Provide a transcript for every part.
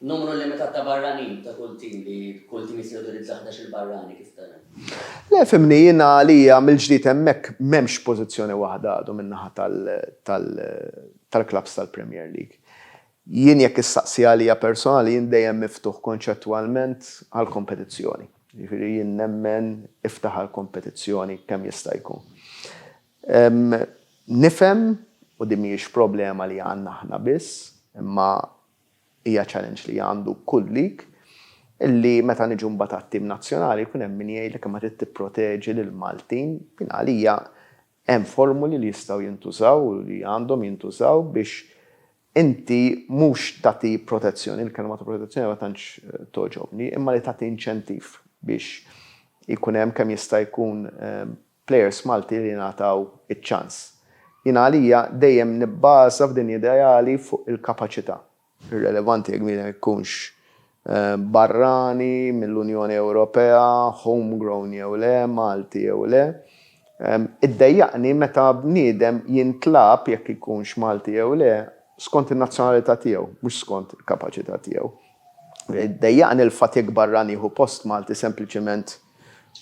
Numru limitat ta' barranin ta' kull tim li kull tim jista' jawtorizza ħdax-il barrani, kif ta' hemm. Le fhimni, jiena għalija mill-ġdid hemmhekk m'hemmx pożizzjoni waħda għadu min-naħa tal-clubs tal-Premier League. Jien jekk issaqsi għalija personali jien dejjem miftuħ konċettwalment għall-kompetizzjoni. Jiġifieri jien nemmen iftaħ għall-kompetizzjoni kemm jista' jkun. Nifhem, u din mhijiex problema li għandna aħna biss, imma Hija challenge li għandu kull league illi meta niġu mbagħad għat-tim nazzjonali jkun hemm min jgħidlek imma trid tipproteġi lill-Maltin. Jien għalija hemm formuli li jistgħu jintużaw u li għandhom jintużaw biex inti mhux tagħti protezzjoni, il-kelma ta' protezzjoni ma tantx togħġobni, imma li tagħti inċentiv biex ikun hemm kemm jista' jkun Plejers Malti li jingħataw iċ-ċans. Jiena għalija dejjem nibbaża f'din ideali fuq il-kapaċità. Irrelevanti jekk bniedem ikunx barrani mill-Unjoni Ewropea, home grown jew le, Malti jew le. Iddejjaqni meta bniedem jintlab jekk ikunx Malti jew le skont in-nazzjonalità tiegħu, mhux skont il-kapaċità tiegħu. Iddejjaqni l-fatt jekk barrani jieħu post Malti sempliċement.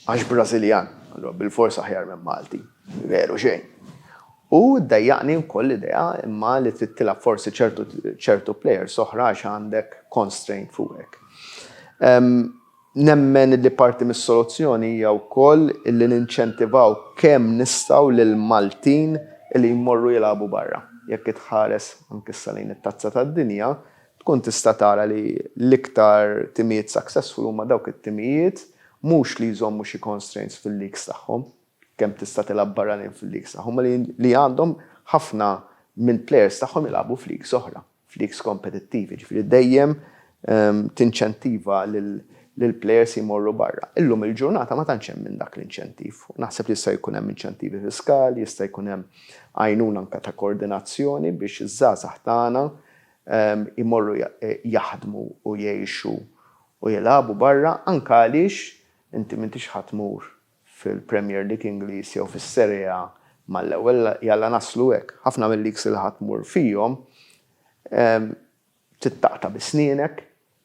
Għax Brażiljan, allura bilfors aħjar minn Malti. Veru xejn. U ddejjaqni wkoll l-idea imma li trid tilgħab forsi ċertu ċertu plejers oħra għax għandek constraint fuqek. Nemmen li parti mis-soluzzjoni hija wkoll li ninċentivaw kemm nistgħu lill-Maltin li jmorru jilagħbu barra. Jekk itħares anke issa lejn it-Tazza tad-Dinja, tkun tista' tara li l-iktar timijiet successful huma dawk it-timijiet mhux li jżommu xi constraints fil-leagues tagħhom, kemm tista' tilgħab barranin fil-leagues tagħhom, imma li għandhom ħafna mill-players tagħhom jilgħabu f'leagues oħra, f'leagues kompetittivi, jiġifieri dejjem tinċentiva lill-players jmorru barra. Illum il-ġurnata ma tantx hemm minn dak l-inċentiv. Naħseb li jista' jkun hemm inċentivi fiskali, jista' jkun hemm għajnuna anke ta' koordinazzjoni biex iż-żgħażagħ tagħna jmorru jaħdmu u jgħixu u jilagħbu barra anke għaliex inti m'intix ħa tmur fil-Premier League Ingliż jew fis-Serie A mal-ewwel, jalla naslu hekk, ħafna mil-leagues li ħa tmur fihom trid taqta' bi snienek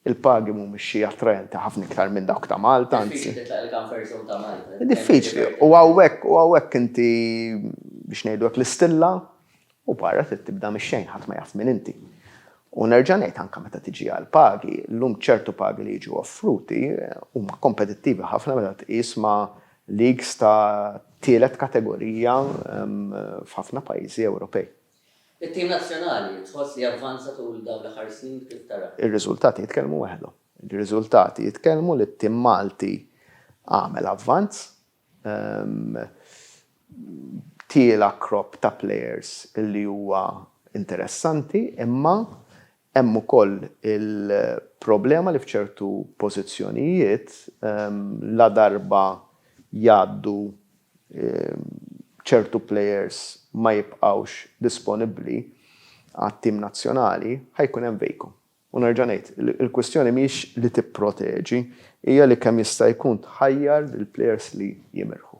Il-pagi mhumiex xi attraenti ħafna iktar minn dawk ta' Malta, anzi. Diffiċli titlaq il-comfort zone ta' Malta. Diffiċli. U hawnhekk, u hawnhekk inti, biex ngħidu hekk, l-istilla, u barra trid tibda mix-xejn, ħadd ma jaf min inti. U nerġa' ngħid anke meta tiġi għall-pagi, llum ċertu pagi li jiġu offruti huma kompetittivi ħafna meta tqis ma' leagues ta' tielet kategorija f'ħafna pajjiżi Ewropej. It-tim nazzjonali tħoss li avvanza tul dawn l-aħħar snin kif tara? Ir-riżultati jitkellmu weħdhom. Ir-riżultati jitkellmu li t-tim Malti għamel avvanz. Tiela' crop ta' players li huwa interessanti imma Hemm ukoll il-problema li f'ċertu pożizzjonijiet, ladarba jgħaddu, ċertu plejers ma jibqgħux disponibbli għat-tim nazzjonali, ħa jkun hemm vacum. U nerġa' ngħid, il-kwistjoni mhijiex li tipproteġi, hija li kemm jista' jkun tħajjar lill-plejers li jimirħu.